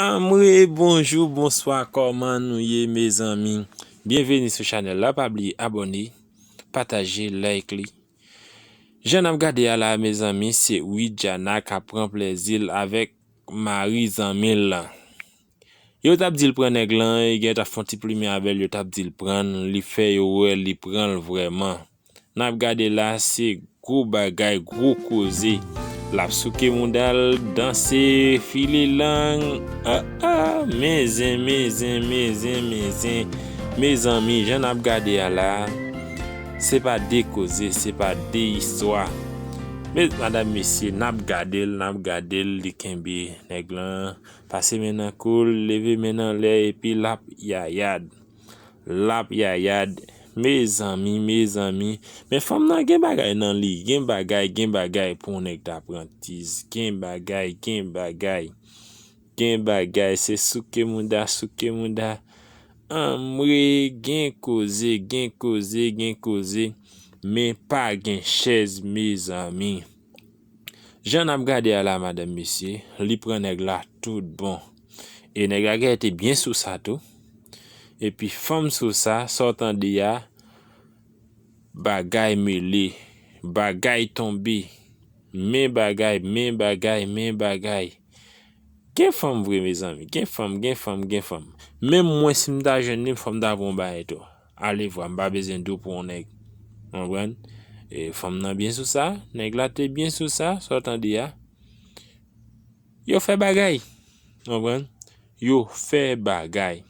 Anmwee bonjou bonswa kòman nou ye mezanmi byenveni sou chanèl la pa bliye abòne pataje like li jan nap gade a la mezanmi se widiana kap pran plèzil avèk mari zanmil lan yo tap dil pran nèg lan e gen tap fon ti plimen avèl yo tap dil prann li fè yo wè li pranl vrèman. Nap gade la se gwo bagay gwo koze lap souke moudal danse file lang ah ah men zen men zen men zen men zen mezanmi jan nap gade a la se pa de koze se pa de istwa met madam mesye nap gadel nap gadel li kenbe nèg lan pase men nan koul leve men nan lè epi lap yayad. Lap yayad mezanmi mezanmi men fanm nan gen bagay nan li gen bagay gen bagay pou yon nèg ta pran tiz gen bagay gen bagay gen bagay se souke mouda souke mouda anmwee gen koze gen koze gen koze men pa gen chèz mezanmi Jan nap gade a la madanm mesye li pran nèg la tout bon e nèg la genlè te byen sou sa tou epi fanm sou sa sa w tande a bagay mele bagay tonbe men bagay men bagay men bagay gen fanm vre mezanmi gen fanm gen fanm gen fanm menm mwen si m ta jwenn li m fò m ta pran yon bagay tou. Alevwa, m pa bezwen do pou yon nèg. Ou konprann? E fanm nan byen sou sa, nèg la te byen sou sa, sa w tande a. Yo fè bagay. Ou konprann? Yo fè bagay.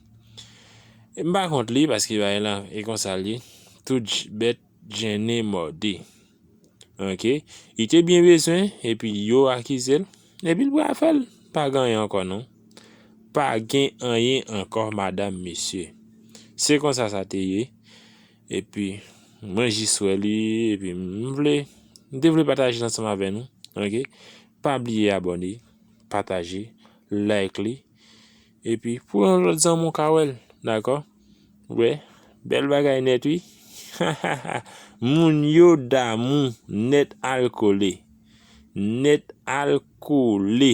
M pa kont li paske bagay lan e konsa l ye. Tout bèt Jenny Mordi ok li te byen bezwen epi yo akizel epi li pral fèl pa gen anyen ankò non pa gen anyen ankò madam mesye se konsa sa te ye epi mwen jis wè li epi m vle m te vle pataje l ansanm avè nou ok pa bliye abòne pataje like li. Epi pou yon lòt zanmi w ka wè l dakò ou wè bèl bagay nèt wi hahaha moun yo damou nèt alkole nèt alkole.